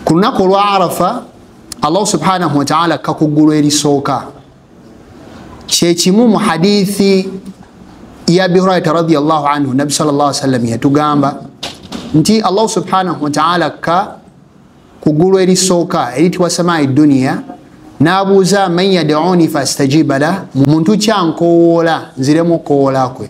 ku lunaku olwa arafa allah subhanahu wataala akka ku ggulu erisooka kyekimu mu hadithi ya abi hurairata radiallahu anhu nabbi sal llah sallam yatugamba nti allah subhanahu wataala akka ku ggulu erisooka eritibwa samai duniya n'abuuza man yaduni fastajiba lah muntu kyankowoola nziremu okowoola kwe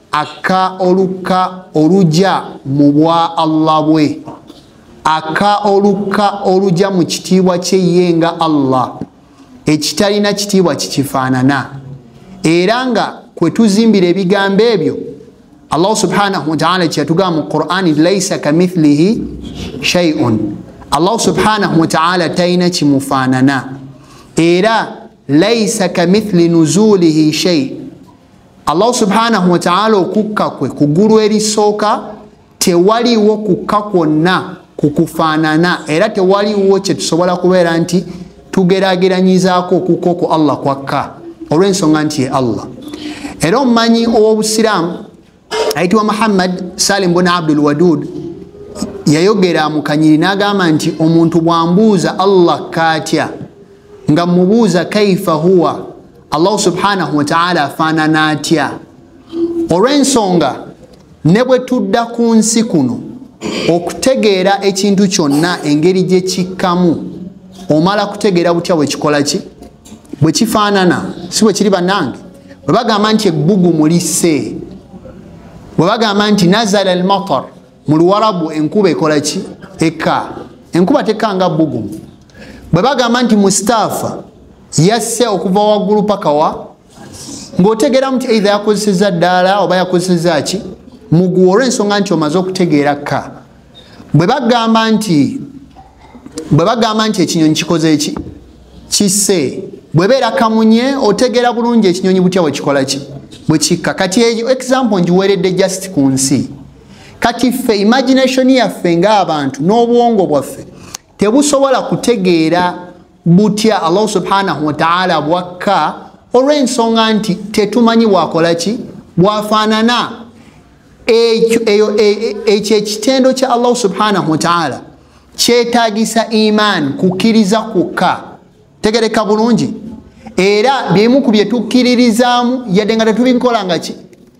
akka olukka oluja mu bwa allah bwe akka olukka oluja mu kitiibwa kye ye nga allah ekitalina kitiibwa kikifaanana era nga kwe tuzimbira ebigambo ebyo allahu subhanahu wataala kyeyatugamba mu qurani laisa kamithlihi shaiun allahu subhanahu wataala talina kimufaanana era laisa kamithli nuzulihi shai allahu subhanahu wataala okukka kwe kugulu erisooka tewaliwo kukka kwonna kukufaanana era tewaliwo kyetusobola kubeera nti tugerageranyizaako okukka oku allah kwakka olw'ensonga nti ye allah era omumanyi ow'obusiraamu ayitibwa muhammad salim bun abdul wadud yayogera mukanyiri n'agamba nti omuntu bwambuuza allah kaatya nga mubuuza kaifa huwa allahu subhanahu wataala afaanana atya olw'ensonga ne bwe tudda ku nsi kuno okutegeera ekintu kyonna engeri gye kikkamu omala kutegeera butya bwe kikola ki bwe kifaanana si bwe kiri bannange bwe bagamba nti ebbugumu lisse bwe bagamba nti nazala almatar mu luwalabu enkuba ekola ki eka enkuba tekanga bugumu bwe bagamba nti mustaafa yasse okuva waggulu paka wa ng'otegeeramu nti eitha yakozeseza ddaala oba yakozeseza ki muguwa olw'ensonga nti omaze okutegeera ka bwe bagamba nti bwe bagamba nti ekinyonyi kikoze eki kisse bwebeera kamunye otegeera bulungi ekinyonyi butya bwekikola ki bwekikka kati eyo example ngiweeredde just ku nsi kati ffe imagination yaffe ngaabantu n'obwongo bwaffe tebusobola kutegeera butya allahu subhanahu wataala bwakka olw'ensonga nti tetumanyi bwakola ki bwafaanana ekyo e, e, ekitendo kya allahu subhanahu wataala kyetagisa imaani kukkiriza kwokka tegereka bulungi era bimu ku byetukkiririzaamu yadde nga tetubinkolangaki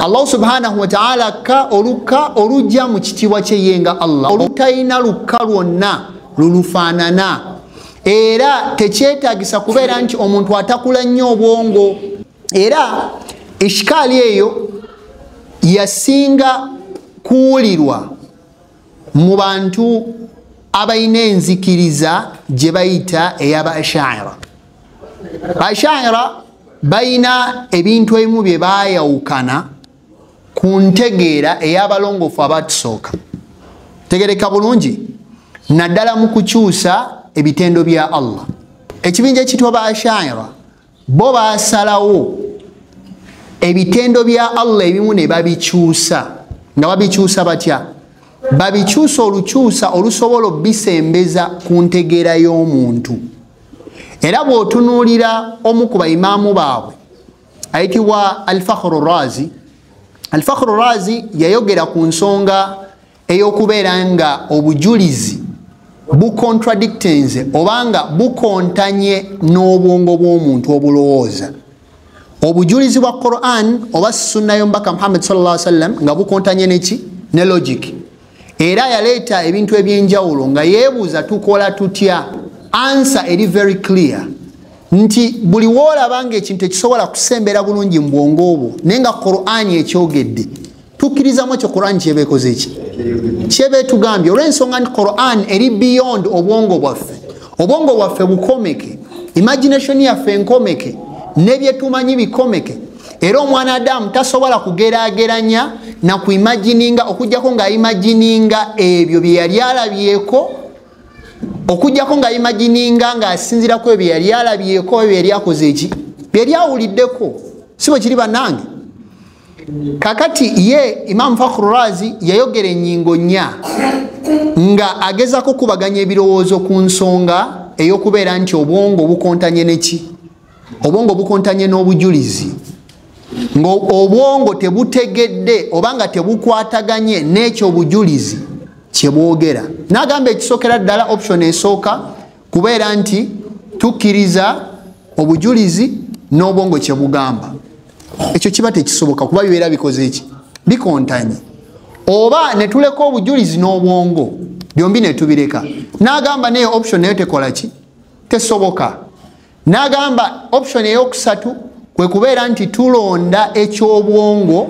allahu subhanahu wataala akka olukka olujja mu kitiibwa kyeye nga allah olutalina lukka lwonna lulufaanana era tekyetagisa kubeera nti omuntu atakula nnyo obwongo era ishikaali eyo yasinga kuwulirwa mu bantu abalina enzikiriza gye bayita eyaba ashaira ashaira balina ebintu ebimu bye baayawukana ku ntegeera ey'abalongoofu abaatusooka tegereka bulungi naddala mu kukyusa ebitendo bya allah ekibinja ekitwa ba ashaira bo basalawo ebitendo bya allah ebimu ne babikyusa nga babikyusa batya babikyusa olukyusa olusobola obisembeza ku ntegeera y'omuntu era bw'otunuulira omu ku baimaamu baabwe ayitibwa alfakhru razi alfakhru razi yayogera ku nsonga eyokubeera nga obujulizi bucontradictenze obanga bukontanye n'obwongo bw'omuntu obulowooza obujulizi bwa quran oba sunna yomubaka muhammad salla sallam nga bukontanye neki ne logic era yaleeta ebintu ebyenjawulo nga yeebuuza tukola tutya ansa eri very clear nti buli woolaba nga ekintu ekisobola kusembera bulungi mu bwongo obwo naye nga qurani ekyogedde tukkirizamu ekyo quran kyeba ekoze ki kyeba etugambye olw'ensonga nti quran eri beyond obwongo bwaffe obwongo bwaffe bukomeke imagination yaffe nkomeke nebyetumanyi bikomeke era omwana adamu tasobola kugerageranya na ku imagininga okujjako nga imagininga ebyo bye yali alabyeko okujjako nga imagininga ng'asinziraku ebyo yali alabyeko ebyo yali akoze eki byeyali awuliddeko si bwe kiri bannange kakati ye imamu fakhru razi yayogera enyingo nya nga agezako kubaganya ebirowoozo ku nsonga eyokubeera nti obwongo bukontanye neki obwongo bukontanye n'obujulizi ngaobwongo tebutegedde oba nga tebukwataganye n'ekyo obujulizi kyebwogera nagamba ekisokera ddala option esooka kubeera nti tukkiriza obujulizi n'obwongo kye bugamba ekyo kiba tekisoboka kuba bibeera bikoze eki bikontanye oba ne tuleka obujulizi n'obwongo byombi ne tubireka n'agamba naye option nayo tekola ki tesoboka n'agamba option eyokusatu kwe kubeera nti tulonda eky'obwongo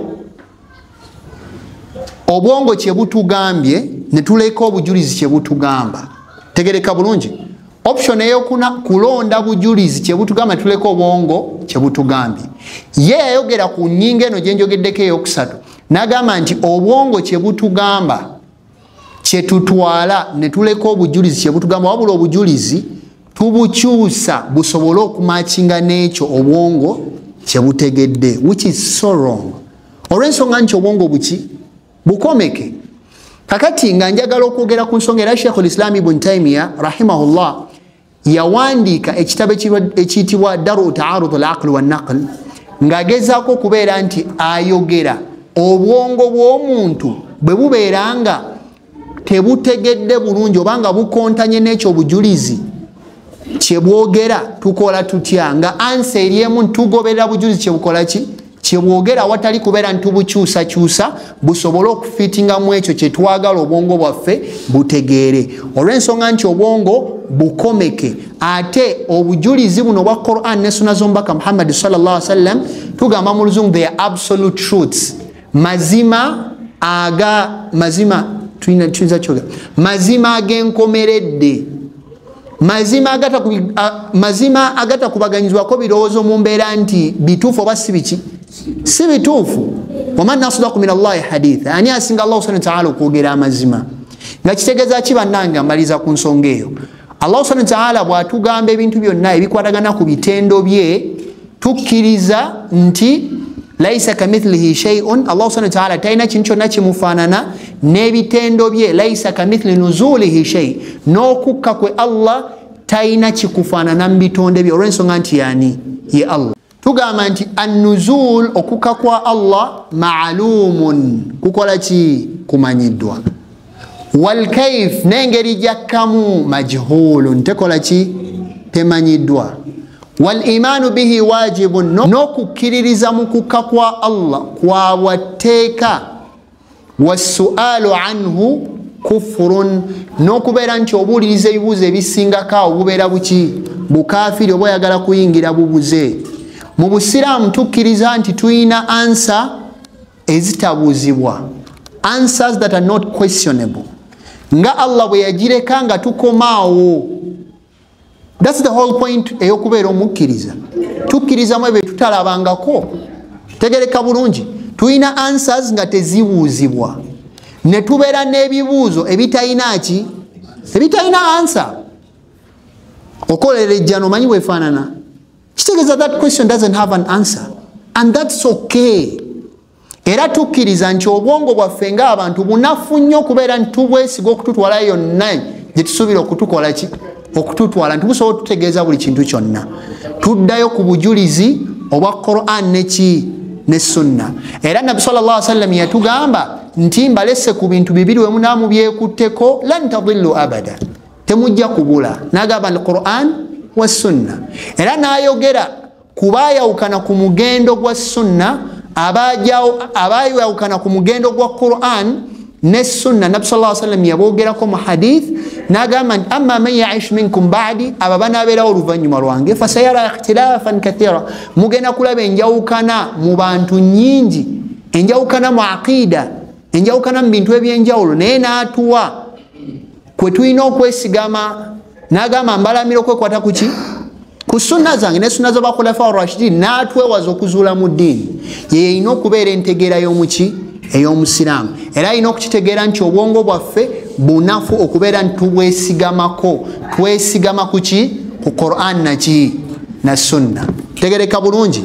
obwongo kye butugambye ne tuleka obujulizi kye butugamba tegereka bulungi option eyokuna kulonda bujulizi kyebutugamba tuleka obwongo kyebutugambye ye yayogera ku nyinga eno gyenjogeddeko eyokusatu nagamba nti obwongo kyebutugamba kyetutwala netuleka obujulizi kyebutugamba wabula obujulizi tubukyusa busobole okumakinga n'ekyo obwongo kyebutegedde which is so wrong olw'ensonga nti obwongo buki bukomeke kakati nga njagala okwogera ku nsonga era sheikhu lislaam ibun taimiya rahimahullah yawandiika ekitabo ekiyitibwa daru taarud al aql wanaql ng'agezaako okubeera nti ayogera obwongo bw'omuntu bwe bubeera nga tebutegedde bulungi oba nga bukontanye n'ekyo obujulizi kyebwogera tukola tutya nga ansa eri emu ntugoberera bujulizi kyebukola ki kyebwogera awatali kubeera nitubukyusakyusa busobole okufitinga mu ekyo kyetwagala obwongo bwaffe butegeere olw'ensonga nti obwongo bukomeke ate obujulizi buno obwa quran ne suna zomubaka muhammadi salllah sallam tugamba mu luzungu the absolute truths mazima aga mazima tuyinza kyoga mazima agenkomeredde mazima agata ku mazima agata kubaganyizwa ko birozo mu mbera nti bitufu oba si biki si bitufu wama nasda ku min Allah hadith ani asinga Allah subhanahu wa ta'ala kugera amazima nga kitegeza ki bananga maliza ku nsonga eyo Allah subhanahu wa ta'ala bwatugamba ebintu byonna ebikwatagana ku bitendo bye tukkiriza nti laisa kamithlihi sheiun allah subhana wataala talina kintu kyonna kimufaanana n'ebitendo bye laisa kamithli nuzulihi shei n'okukka kwe allah talina kikufaanana mu bitonde bye olw'ensonga nti yani ye allah tugamba nti annuzul okukka kwa allah maalumun kukola ki kumanyiddwa walkaif n'engeri gyakkamu majhulun tekola ki temanyiddwa walimaanu bihi wajibun n'okukkiririza mu kukka kwa allah kwabwa tteeka wassualu anhu kufurun n'okubeera nti obuuliriza ebibuuzo ebisingako awo bubeera buki bukafiri oba oyagala kuyingira bubuze mu busiraamu tukkiriza nti tulina ansa ezitabuuzibwa answers that are not questionable nga allah bwe yagireka nga tukomaawo thats the whole point eyokubeera omukkiriza tukkirizamu ebyo tutalabangako tegereka bulungi tulina answers nga tezibuuzibwa ne tubeera n'ebibuuzo ebitalina ki ebitalina ansa okolera ejjana omanyi bwefaanana kitegeeza that question doesn't have an answer and that's okay era tukkiriza nti obwongo bwaffe ngaabantu bunafu nnyo okubeera nti tubwesiga okututwala yonna gyetusuubira okutukola ki okututwala nti busobola otutegeeza buli kintu kyonna tuddayo ku bujulizi obwa quran neki ne sunna era nabbi sal llah sallam yatugamba nti mbalese ku bintu bibiri wemunaamubyekutteko lan tadillu abada temujja kubula nagamba ni quran wa sunna era nayogera kubayawukana ku mugendo gwa sunna abayawukana ku mugendo gwa quran ne sunna nabbi saa sallam yabogerako mu hadith nagamba nti ama man yaish minkum badi abo banabeerawo oluvanyuma lwange fasayara ikhtilafan kathira mugenda kulaba enjawukana mu bantu nyingi enjawukana mu aqida enjawukana mu bintu ebyenjawulo naye natuwa kwe tulina okwesigama n'agamba mbalamira okwekwata ku ki ku sunna zange ne sunna zabakhulafa rashidin n'atwewaza okuzuula mu ddiini ye yalina okubeera entegeera y'omuki ey'omusiraamu era alina okukitegeera nti obwongo bwaffe bunafu okubeera nti tubwesigamako twesigama ku ki ku quran naki na sunna tegereka bulungi